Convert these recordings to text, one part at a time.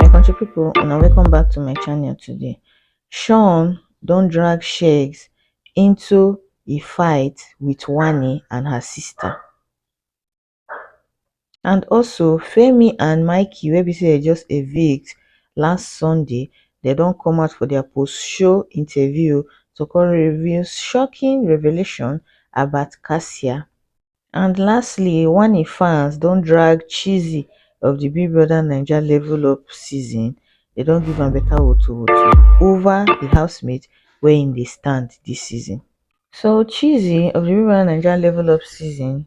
my country people una welcome back to my channel today sean don drag shegs into a fight with wani and her sister and also femi and mikey wey be say dem just evict last sunday dem don come out for their post show interview to come reveal shocking revelation about cassia and lastly oneifans don drag chizzy of di big brother naija level up season dem don give am beta wotowoto ova di housemate wia im dey stand dis season so chizzy of di big brother naija level up season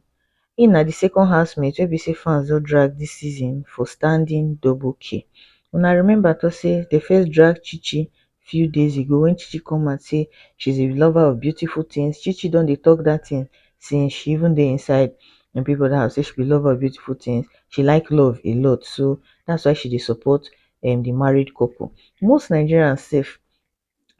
im na di second housemate wey be say fans don drag dis season for standing double key una remember tok say dem first drag chichi few days ago when chichi come out say she's a lover of beautiful things chichi don dey talk that thing since she even dey inside um big brother house say she be lover of beautiful things she like love a lot so that's why she dey support um the married couple most nigerians sef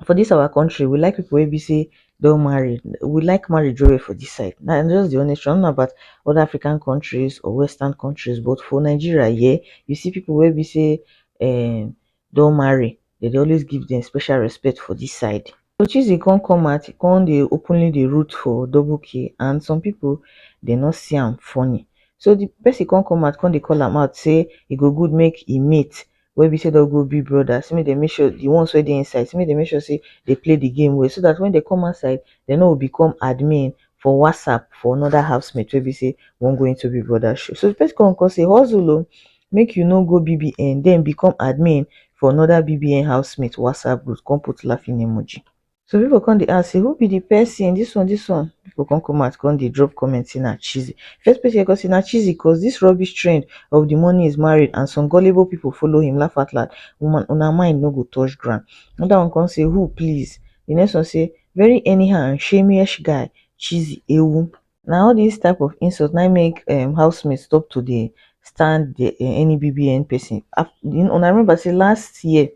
for this our country we like people wey be say don marry we like marriage well well for this side na just the honest truth i no know about other african countries or western countries but for nigeria here you see people wey be say um don marry dem dey always give dem special respect for this side. Uchechi come come out e come dey openly dey root for double k and some people dey no see am funny so the person come come out come dey call am out say e go good make e mate wey be say don go be brother say make dem make sure the ones wey dey inside say make dem make sure say dey play the game well so that when dey come outside dey no go become admin for whatsapp for another housemate wey be say wan go into big brother shoe so the person come come say hustle o make you no go bbn den become admin for another bbn housemate whatsapp group come put laughing emoji so people come dey ask say who be the person this one this one people come come out come dey drop comment say na cheesy first person wey come say na cheesy cause this rubbish trend of the money is married and some gullible people follow him laugh out loud woman una mind no go touch ground another one come say who please the next one say very anyhow and shameyish guy cheesy ewu na all dis type of insult na im make um housemate stop to dey stand the um any bbn person af um una remember sey last year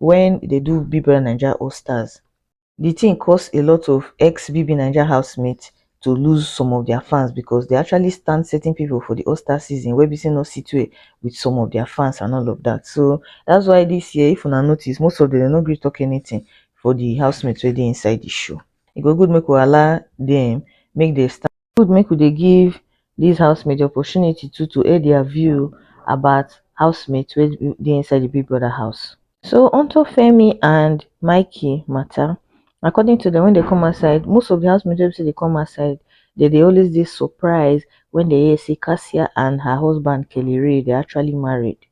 when e dey do big brother naija all stars the thing cause a lot of ex bbnaija housemate to lose some of their fans because they actually stand certain people for the all star season wey be sey no sit well with some of their fans and all of that so that's why this year if una notice most of them dem no gree talk anything for the housemate wey dey inside the show e go good make we allow dem make dem stand. E good make we dey give dis housemates opportunity too to air dia view about housemates wey dey inside di Big Brother house. So onto Femi and Mikey mata, according to dem wen dem come outside, most of di housemates wey be sey dem come outside dem dey always dey surprise wen dem hear sey Cassia and her husband Kellyrae dey actually married.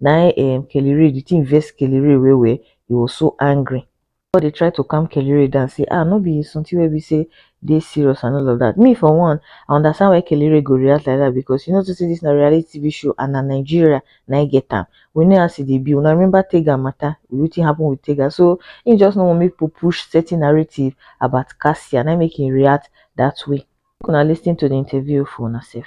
Na im um Kelly Rae, the thing vex Kelly Rae well well, he was so angry. But they try to calm Kelly Rae down, say, ah, no be something where we say they serious and all of that. Me, for one, I understand why Kelly Rae go react like that because you know to see this na reality TV show and na Nigeria na I get am. We know as it e be. Una remember Tega matter, wetin happen with Tega. So he just no wan make people push certain narrative about Cassia, na im make him react that way. Make una lis ten to the interview for una sef.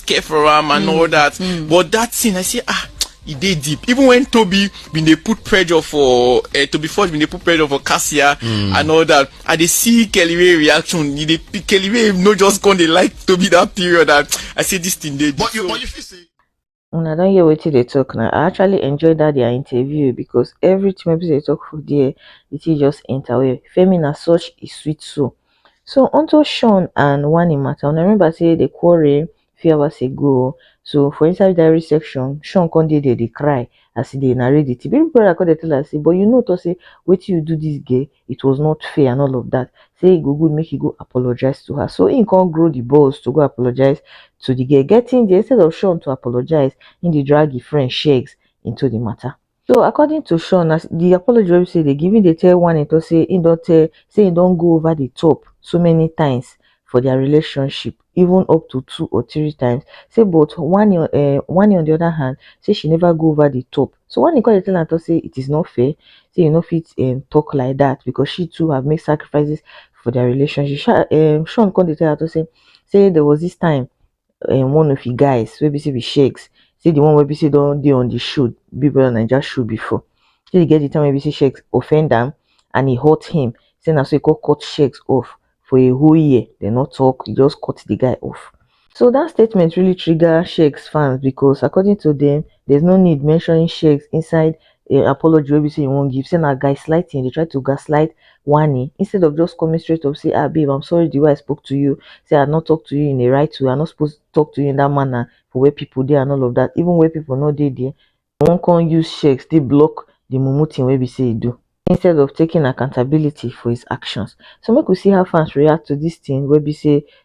care for am and all that but that thing i say ah e dey deep even when toby bin dey put pressure for uh, toby forge bin dey put pressure for cassia mm. and all that i dey see kelly ray reaction e dey kelly ray no just come dey like toby that period and i say this thing dey deep But you, so but you feel say una don hear wetin dey talk na i actually enjoy that their interview because everything wey be say dey talk for there the thing just enter well femi na such a sweet soul So unto Sean and Wani matter, una remember say they quarrel few hours ago. So for inside diary section, Sean come dey there dey cry as he dey narrate the thing. Baby brother come dey tell her say, but you know to say wetin you do this girl, it was not fair and all of that. Say e go good make you go apologize to her. So he come grow the balls to go apologize to the girl. Getting there, instead of Sean to apologize, he dey drag his friend Shegs into the matter. So according to Sean, as the apology wey say they giving they tell one and to say he don't tell say he don't go over the top so many times for their relationship, even up to two or three times. Say but one uh, eh, one on the other hand, say she never go over the top. So one call tell and to say it is not fair, say you know fit um, talk like that because she too have made sacrifices for their relationship. Sean, um, Sean called the tell her to say say there was this time um one of e guys wey be sey be shakes, see di one wey be sey don dey on di show big brother naija show before, shey e get di time wey be sey shakes offend am and e hurt him sey na so e come cut shakes off for a whole year dem no talk e just cut di guy off. So dat statement really trigger shakes fans because according to dem there's no need mentioning shakes inside eh, apology wey be say he won't give say na gaslighting dey try to gaslight wani instead of just coming straight up say ah babe i'm sorry the way i spoke to you say i not talk to you in a right way i not supposed to talk to you in that manner for where people there and all of that even where people not there there one can use shakes still block the mumu thing wey be say he do instead of taking accountability for his actions so make we see how fans react to this thing wey be say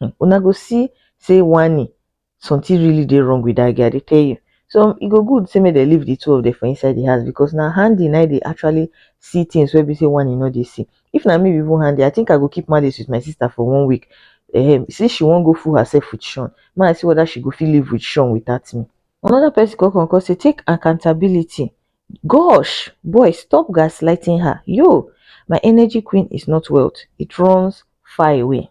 um una go see say wanni something really dey wrong with dat girl i dey tell you so e go good say make dem leave the two of them for inside the house because na Handi na dey actually see things wey be say wanni no dey see if na me be even Handi i think i go keep malice with my sister for one week um since she wan go fool herself with Sean make i see whether she go fit live with Sean without me another person come come come say take accountability gosh boy stop gaslighting her yo my energy queen is not wealth it runs far away.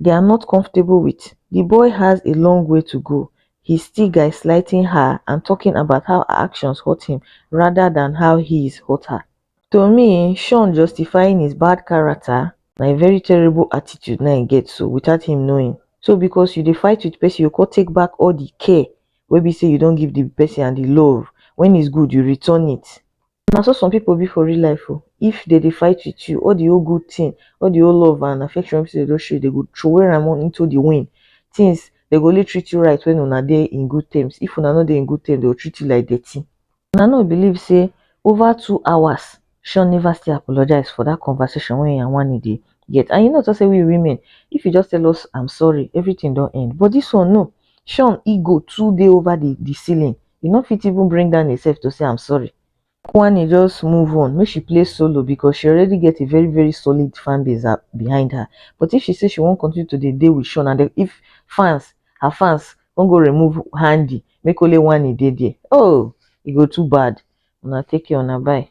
they are not comfortable with, the boy has a long way to go, he's still gaslighting her and talking about how her actions hurt him rather than how he is hurt her. To me, Sean justifying his bad character na a very terrible attitude na he get so without him knowing. So because you dey fight with person, you go take back all the care wey be say you don't give the person and the love. When it's good, you return it. Na so some pipu be for real life oh, if dem dey fight with you all the whole good thing, all the whole love and affection wey be sey dem don show you dem go throway am into the wind. Things dem go only treat you right when una dey in good terms, if una no dey in good terms dem go treat you like dirty. Una no believe sey over two hours Sean never still apologize for that conversation wey him and Wanni dey get and you know sey we women if you just tell us I'm sorry everything don end but this one no, Sean ego too dey over the the ceiling. e no fit even bring down himself to say I'm sorry. Kwani just move on, make she play solo because she already get a very very solid fan base uh, behind her. But if she say she won't continue to dey dey with Sean and if fans, her fans won't go remove Handy, make only one e dey there. Oh, e go too bad. Una take care, una bye.